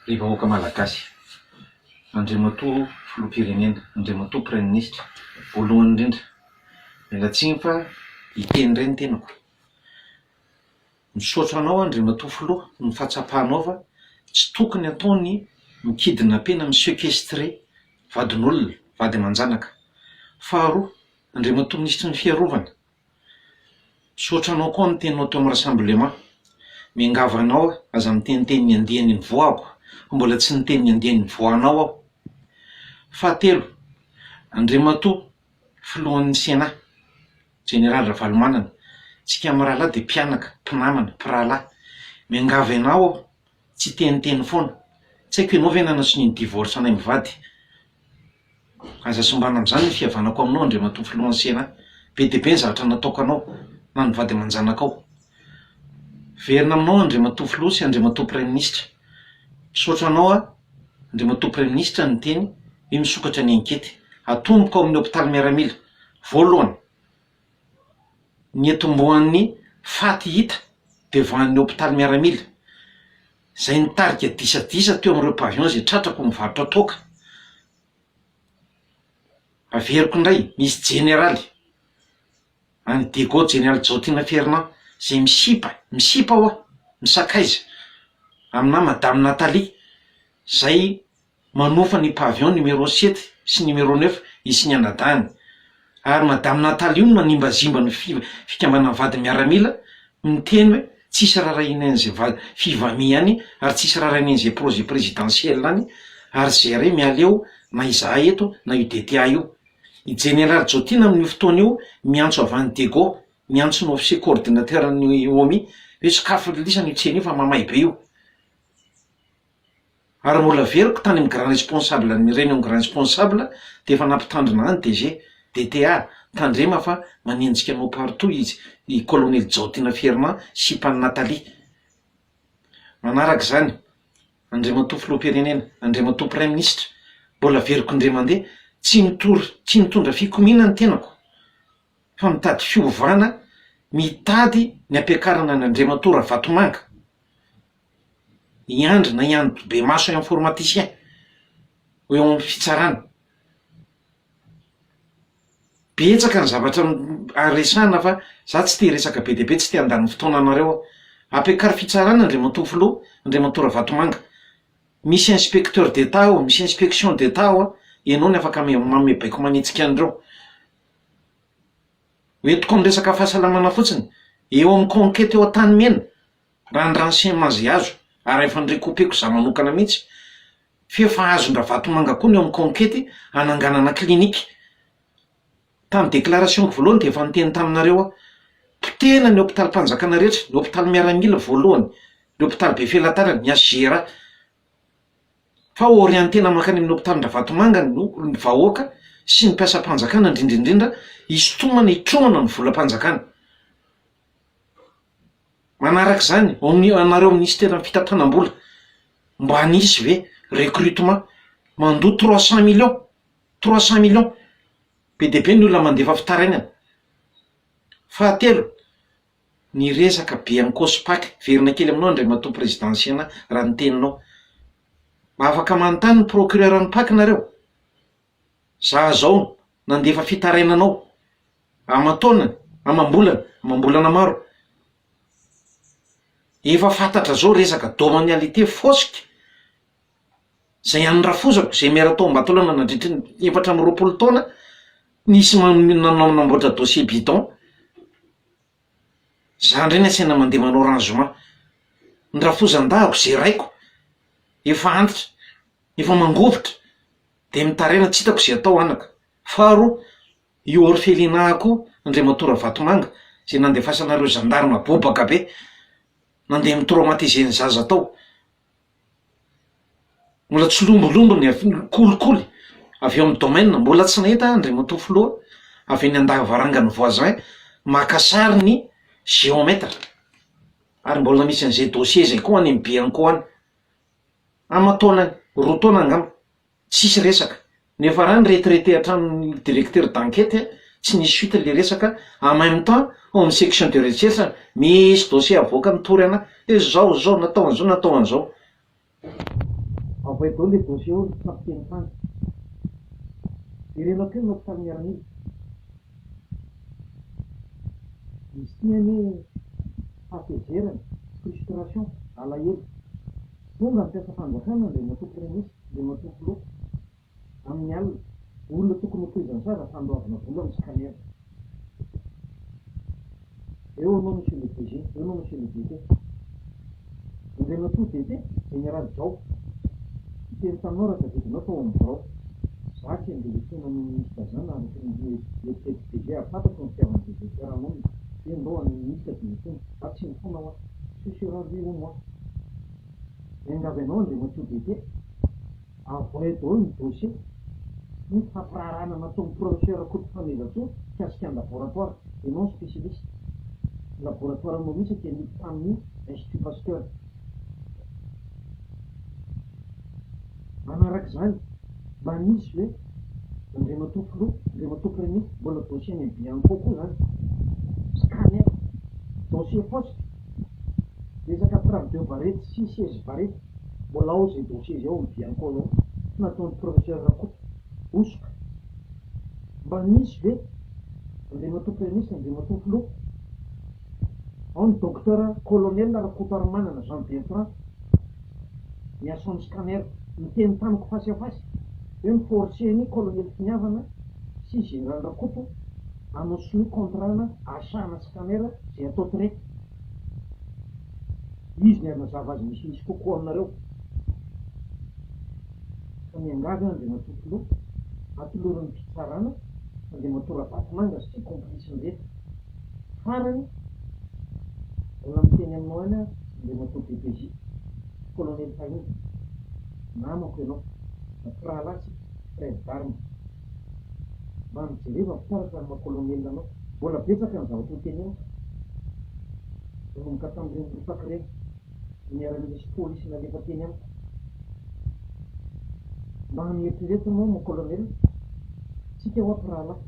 Ry vahoaka Malagasy, Andriamatoa Filoham-pirenena, Andriamatoa Praiminisitra, voalohany indrindra, mila tsiny fa hiteny indray ny tenako. Misaotra anao Andriamatoa Filoha noho ny fahatsapanao fa tsy tokony atao ny mi-kidnapper-na, mi-sequestrer vadin'olona, vady aman-janaka. Faharoa, Andriamatoa Minisitry ny Fiarovana, Misaotra anao koa ny teninao teo amin'ny rassemblement. Miangavy anao aza miteniteny ny andiany nivoahako fa mbola tsy niteny ny andiany nivoahanao aho. Fahatelo, Andriamatoa filohan'ny Sena, Jeneraly Ravalomanana, tsika mirahalahy dia mpianaka, mpinamana, mpirahalahy. Miangavy anao aho Tsiteniteny foana. Tsy haiko ianao ve nanasonia ny divorce anay mivady? Aza simbana amzany ny fihavanako aminao Andriamatoa Filoha ny Sénat. Be dia be ny zavatra nataoko anao na ny vady aman-janakao. Miverina aminao Andriamatoa Filoha sy Andriamatoa Praiminisitra. Misaotra anao aho Andriamatoa Praiminisitra ny miteny, io misokatra ny enquete. Atomboko ao amin'ny hopitaly miaramila. Voalohany. niantombohan'ny faty hita devant ny hopitaly miaramila, izay nitarika disadisa teo amin'ireo pavillons izay tratrak'o mivarotra toaka. Averiko indray, misy jeneraly, any Diego, jeneraly Jaotina Fernand, izay misipa, misipa ho'a, misakaiza aminà madame Nathalie, izay manofa ny pavillon numéro sept sy numéro neuf izy sy ny anadahiny, ary madame Nathalie no manimbazimba ny fikambanan'ny vadin'ny miaramila, miteny hoe tsisy rarahian'izay va fivamia any ary tsisy rarahian'izay projet présidentiel any ary zay re mialeo na izahay eto na io DTA io. I Jeneraly Jotina amin'io fotoana io miantso avy any Dego, miantso ny officier coordinateur-n'ny OMI hoe sokafy lisany io tsena io fa mamay be io. Ary mbola averiko tany amin'ny grand responsable an'ny réunion grand responsable dia efa nampitandrina any DG, DTA, tandrema fa manenjika anao partout izy i colonel Jaotina Fernand sipan'i Nathalie. Manaraka izany Andriamatoa Filoham-pirenena, Andriamatoa Praiminisitra, mbola averiko indray mandeha, tsy mitory, tsy mitondra fikomiana ny tenako, fa mitady fiovana mitady ny hampiakarana an' Andriamatoa Ravatomanga, i Andry na i Andribemaso informaticien ho eo amin'ny fitsarana. Betsaka ny zavatra a resahana fa za tsy te hiresaka be dia be tsy te handany fotoana anareo aho, ampiakaro fitsarana Andriamatoa Filoha, Andriamatoa Ravatomanga, misy inspecteur d'Etat ao, misy inspection d'Etat ao a, ianao no afaka mame baiko manitsika an'ireo. Hoentiko amin'ny resaka fahasalamana fotsiny, eo amin'ny conquete eo Antanimena, raha ny renseignements izay azo, ary efa ni-recoupeko izaho manokana mihitsy, f'efa azon-dRavatomanga koa ny eo amin'ny conquete hananganana clinique. Tamin'ny déclaration-ko voalohany dia efa niteny taminareo aho, potehina ny hopitalim-panjakana rehetra, ny hopitaly miaramila voalohany, ny hopitaly be felatanana, ny HJRA, fa orientena mankany amin'ny hopitalin-dRavatomanga ny vahoaka sy ny mpiasam-panjakana indrindra indrindra hisintomana hitrohana ny volam-panjakana. Manaraka izany, anareo minisiteran'ny fitantanam-bola, mba nisy ve recrutement? Mandoa trois cent millions, trois cent millions, be dia be ny olona mandefa fitarainana. Fahatelo, Ny resaka be ankoso pack verina kely aminao Andriamatoa Prezidansiana raha ny teninao. Mba afaka manontany ny procureur ny pack nareo? Za zao nandefa fitarainana ao aman-taonany, amam-bolana, amam-bolana maro. Efa fantatra zao resaka domanialité fosika. Zay ihany ny rafozako, zay miara tao Ambatolaona nandritry ny efatra amby roapolo taona, nisy namboatra dossier bidon, za ndray ny asaina mandeha manao rangement, ny rafozan-dahako zeraiko, efa antitra, efa mangovitra de mitaraina tsy hitako ze atao anaka. Faharoa, io orphelinat koa Andriamatoa Ravatomanga zay nandefasanareo zandary mabobaka be, nandeha ni-traumatiser ny zaza tao. Mbola tsy lombolombo ny avy ny kolikoly avy ao amin'ny domaine, mbola tsy nahita andriamatoa filoha avy any an-davarangan'ny voisin maka sary ny géomètre, ary mbola misy an'izay dossier zay koa any am-BIANCO any, aman-taonany, roa taona angamba. Tsisy resaka. Nefa ra ny retraité hatramin'ny directeur d'enquête tsy nisy suite le resaka, en même temps ao amin'ny section de recherche misy dossier avoaka mitory ana hoe zao zao natao an'zao natao an'zao. Avoay daholo le dossier ao ry capitaine hany. Jerena koa ny hopitaly miaramila. Izy ity anie hatezerana, frustration, alahelo. Tonga ny mpiasam-panjakana, ilay matoky minisitra, ilay matoky loka, amin'ny alina. Olona tokony ho tohizan'i Sara fa handoavina vola ny scanner. Eo anao Monsieur le DG, eo anao Monsieur le DT. Andriamatoa DT, Général Jao, miteny taminao raha tadidinao tao amin'ny birao. Za tsy handeha hiantsoana an'io minisitra zany raha mbola ny eritreritra DG hahafantatro ny fitiavan'ny DG Pierre hamonina. Dia ndao an'ny minisitra dia hiantsoana. Za tsy mifona hoa. Tsy sera ry o moi. Miangavy anao Andriamatoa Député, avoahy daholo ny dossier ny fampiraharahana nataon'ny Professeur Koto Fanirisoa mikasika ny laboratoire et non spécialiste. Ny laboratoire moa mihitsy dia miditra tamin'ny Institut Pasteur. Manaraka izany, mba misy ve Andriamatoa Filoha, Andriamatoa Praiminisitra, mbola dossier any amin'ny Bianco koa izany? Scanner, dossier fosse, resaka preuve de varety sy seize varety, mbola ao izay dossier izay ao amin'ny Bianco anao, tsy nataon'ny Professeur Rakoto, hosoka. Mba misy ve Andriamatoa Praiminisitra, Andriamatoa Filoha? Ao ny Docteur Colonel Rakotarimanana Jean Bertrand miasa amin'ny scanner. Niteny tamiko face à face hoe mi-forcer an'i Colonel Finiavana sy Général Rakoto hanao signer contrat-na achat-na scanner izay atao traite. Izy ny hanazava azy misimisy kokoa aminareo. Ka miangavy aho Andriamatoa Filoha, atoloran'ny fitsarana Andriamatoa Ravatomanga sy ny complice-ny rehetra. Farany, mbola miteny aminao ihany aho Andriamatoa DPJ, Kolonely Pahinda, namako ianao na mpirahalahy tsika, frère d'armes. Mba mijereva ny fitaratra ny maha Kolonely anao. Mbola betsaka ny zavatra ho teneniko, nanomboka tamin'ireny ripaka ireny. ny an'i misy polisy nalefa teny amiko. Mba an'eritrereto anao mon colonel, tsika ho'ato rahalahy.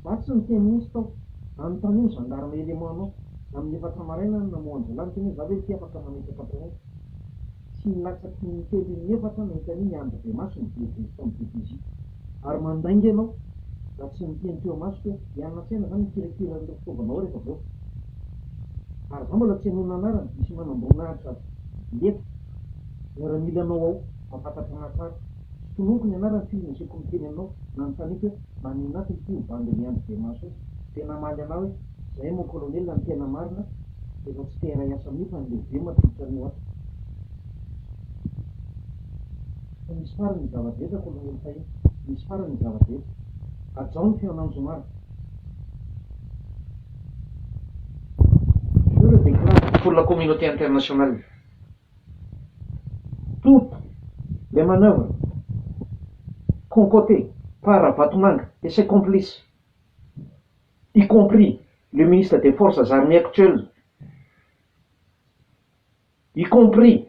Za tsy niteny mihitsy tao, anontanio ny gendarme élément nao, amin'ny efatra maraina aho no namoha an'i zalahy, niteny hoe za ve ity afaka mametraka mpanompo. Tsy latsaky ny telo iny efatra aho nahita an'iny andry bemaso ny DG sy ny DPJ. Ary mandainga ianao raha tsy miteny teo amasoko hoe hianona an-tsena zany mikirakira an'ireo fitaovana ao rehefa voaka. Ary za mbola tsy henoina anarana, misy manamboninahitra lefitra miaramilanao ao mampatatra anahy tsara. Sotonoko ny anarany f'io nasiako miteny aminao, nanontaniako hoe maninona ato ity io bandy ny Andry Bemaso io? Dia namaly anahy hoe zay mon colonel ny tena marina efa tsy te hiray asa amin'io fa ny lehibe mampiditra an'io ato. Fa misy farany ny zava-drehetra kolonely fahiny. Misy farany ny zava-drehetra. Hajao ny fihaonan'ny zoma ary. Je le déclare pour la communauté internationale. Toutes les manœuvres concotées par Ravatomanga et ses complices, y compris le ministre des Forces armées actuel, y compris.